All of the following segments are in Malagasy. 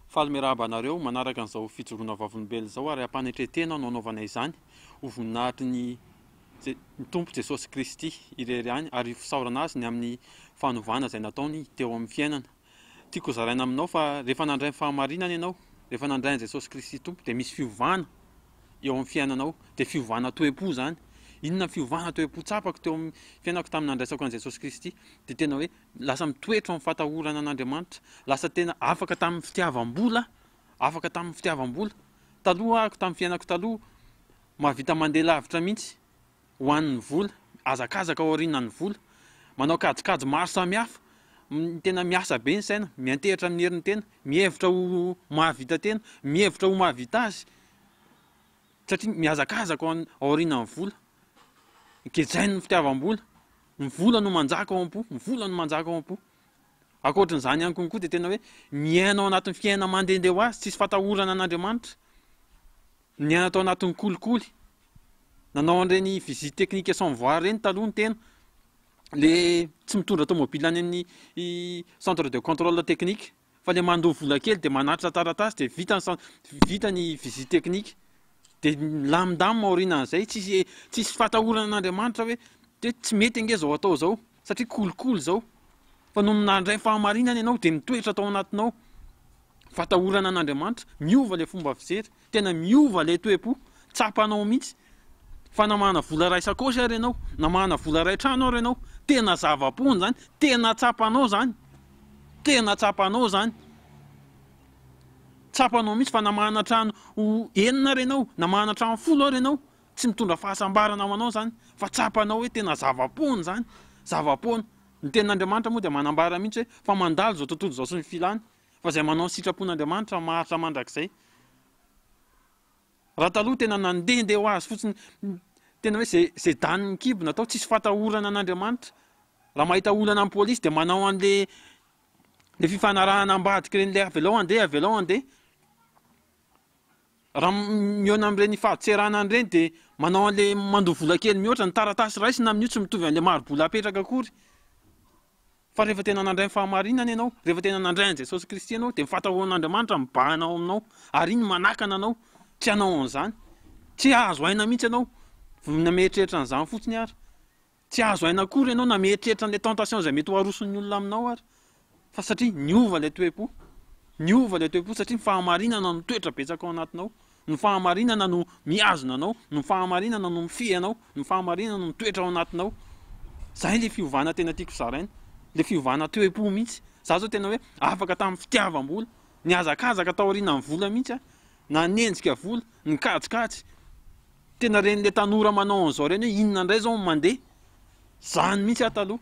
Faly mirahaba anareo manaraka an'izao fijoroana vavolombelona izao ary am-panetren-tena no hanaovana izany, ho voninahitry ny ny Tompo Jesosy Kristy irery ihany ary fisaorana Azy ny amin'ny fanovana izay nataony teo amin'ny fiainana. Tiako hozaraina aminao fa rehefa nandray ny fahamarinana ianao, rehefa nandray an'i Jesosy Kristy Tompo dia misy fiovana eo amin'ny fiainanao, dia fiovana toe-po izany. Inona ny fiovana toe-po tsapako teo amin'ny fiainako tamin'ny nandraisako an'i Jesosy Kristy? Dia tena hoe Lasa mitoetra amin'ny fatahorana an'Andriamanitra. Lasa tena afaka tamin'ny fitiavam-bola, afaka tamin'ny fitiavam-bola. Taloha aho, tamin'ny fiainako taloha, mahavita mandeha lavitra mihitsy ho an'ny vola, mihazakazaka aorianan'ny vola, manao kajikajy maro samihafa, tena miasa be ny saina, miantehitra amin'ny herin'ny tena, mihevitra ho mahavita tena, mihevitra ho mahavita azy, satria mihazakazaka aorianan'ny vola. Gejain'ny fitiavam-bola. Ny vola no manjaka ao am-po, ny vola no manjaka ao am-po. Ankoatran'izany ihany konkoa dia tena hoe miaina ao anatin'ny fiainana mandehandeha ho azy, tsisy fatahorana an'Andriamanitra. Niaina tao anatin'ny kolikoly, nanao an'ireny visite technique sans voir ireny taloha ny tena, le tsy mitondra tomobila any amin'ny centre de contrôle technique. fa le mandoa vola kely de manatitra taratasy de vita ny cen- vita ny visite technique de milamindamina aorianan'izay tsisy tsisy fatahoran'Andriamanitra hoe de tsy mety ange zao atao zao satria kolikoly zao fa nony nandray fahamarinana ianao de mitoetra tao anatinao fatahorana an'Andriamanitra miova le fomba fijery Tena miova ilay toe-po, tsapanao mihitsy fa namahana vola iray sakaosy ary ianao, namahana vola iray trano ary ianao, tena zava-poana izany, tena tsapanao izany, tena tsapanao izany, tsapanao mihitsy fa namahana trano enina ary ianao, namahana trano folo ary ianao, tsy mitondra fahasambarana ho anao izany fa tsapanao hoe tena zava-poana izany, zava-poana. Ny tenin'Andriamanitra moa dia manambara mihitsy hoe fa mandalo izao tontolo izao sy ny filany, Fa izay manao ny sitrapon'Andriamanitra maharitra mandrakizay. Raha taloha tena nandehandeha ho azy fotsiny, tena hoe izay izay danin'ny kibo natao, tsisy fatahorana an'Andriamanitra. Raha mahita olana amin'ny polisy dia manao an'ilay ilay fifanarahana ambadik'ireny ilay avelao andeha, avelao andeha. Raha mihaona amin'ireny fahatserana an'ireny dia manao an'ilay mandoa vola kely mihoatra ny taratasy raisina amin'io tsy mitovy an'ilay mari-bola apetraka akory fa rehefa tena nandray ny fahamarinana ianao, rehefa tena nandray an'i Jesosy Kristy ianao dia ny fahatahonan'Andriamanitra mibahana ao aminao ary iny manakana anao tsy hanao an'izany, tsy hahazo aina mihitsy ianao vao namehitrehitra an'izany fotsiny ary. Tsy azo aina akory ianao na mieritreritra an'ilay tentation izay mety ho aroson'ny olona aminao ary fa satria niova ilay toe-po. Niova ilay toe-po satria ny fahamarinana no toetra betsaka ao anatinao. Ny fahamarinana no mihazona anao, ny fahamarinana no mifehy anao, ny fahamarinana no mitoetra ao anatinao. Izay ilay fiovana tena tiako zaraina, ilay fiovana toe-po mihitsy. Izaho izao tena hoe afaka tamin'ny fitiavam-bola, nihazakazaka taorianan'ny vola mihitsy aho. Nanenjika volo, nikajikajy. Tena ren'ilay tanora manao an'izao ireny hoe inona indray izao no mandeha. Izany mihitsy aho taloha.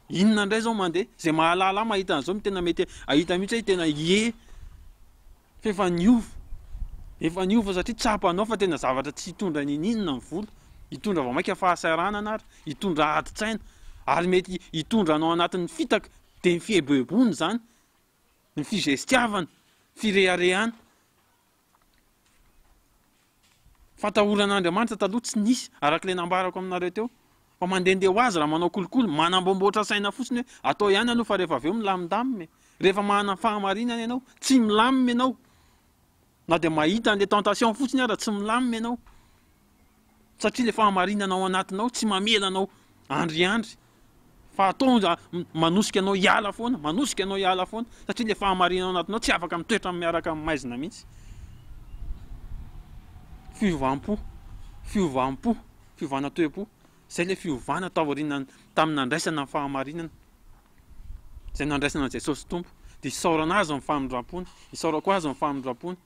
Inona indray izao no mandeha. Izay mahalala ahy mahita an'izao no tena mety hahita mihitsy hoe tena ie. F'efa niova. Efa niova satria tsapanao fa tena zavatra tsy hitondra n'inon'inona ny volo. Hitondra vao mainka fahasahiranana ary hitondra adin-tsaina. Ary mety hitondra anao anatin'ny fitaka. Dia ny fieboeboana izany. ny fizestiavana, fireharehana. Fatahoran'Andriamanitra taloha tsy nisy, araka ilay nambarako aminareo teo, fa mandehandeha ho azy raha manao kolikoly, manambomboatra saina fotsiny hoe atao ihany aloha fa rehefa avy eo milamindamina e! Rehefa manana fahamarinana ianao, tsy milamina ianao, Na dia mahita an'ilay tentation fotsiny aza tsy milamina ianao, satria ilay fahamarinana ao anatinao tsy mamela anao handriandry, fa ataonja manosika anao hiala foana, manosika anao hiala foana, satria ilay fahamarinana ao anatinao tsy afaka mitoetra amin'ny miaraka amin'ny maizina mihitsy. Fiovam-po, fiovam-po, fiovana toe-po. Izay ilay fiovana taoriana tamin'ny nandraisana ny fahamarinana, izay nandraisana an'i Jesosy Tompo, dia isaorana Azy amin'ny famindram-pony, isaorako Azy amin'ny famindram-pony,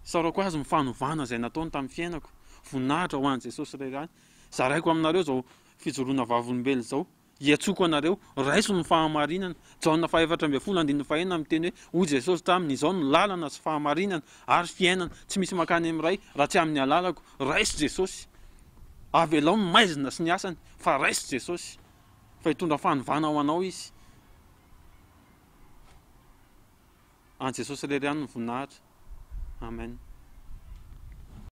isaorako Azy amin'ny fanovana izay nataony tamin'ny fiainako, voninahitra ho an'i Jesosy Ray, zaraiko aminareo izao fijoroana vavolombelona izao, Hiantsoko anareo, raiso ny fahamarinana. Jaona fahefatra ambin'ny folo andininy fahenina miteny hoe, Hoy Jesosy taminy, Izao no lalana sy fahamarinana ary fiainana, tsy misy mankany amin'ny Ray raha tsy amin'ny alalako. Raiso Jesosy. Avelao ny maizina sy ny asany, fa raiso Jesosy. Fa hitondra fanovana ho anao Izy. An'i Jesosy irery ihany ny voninahitra. Amen.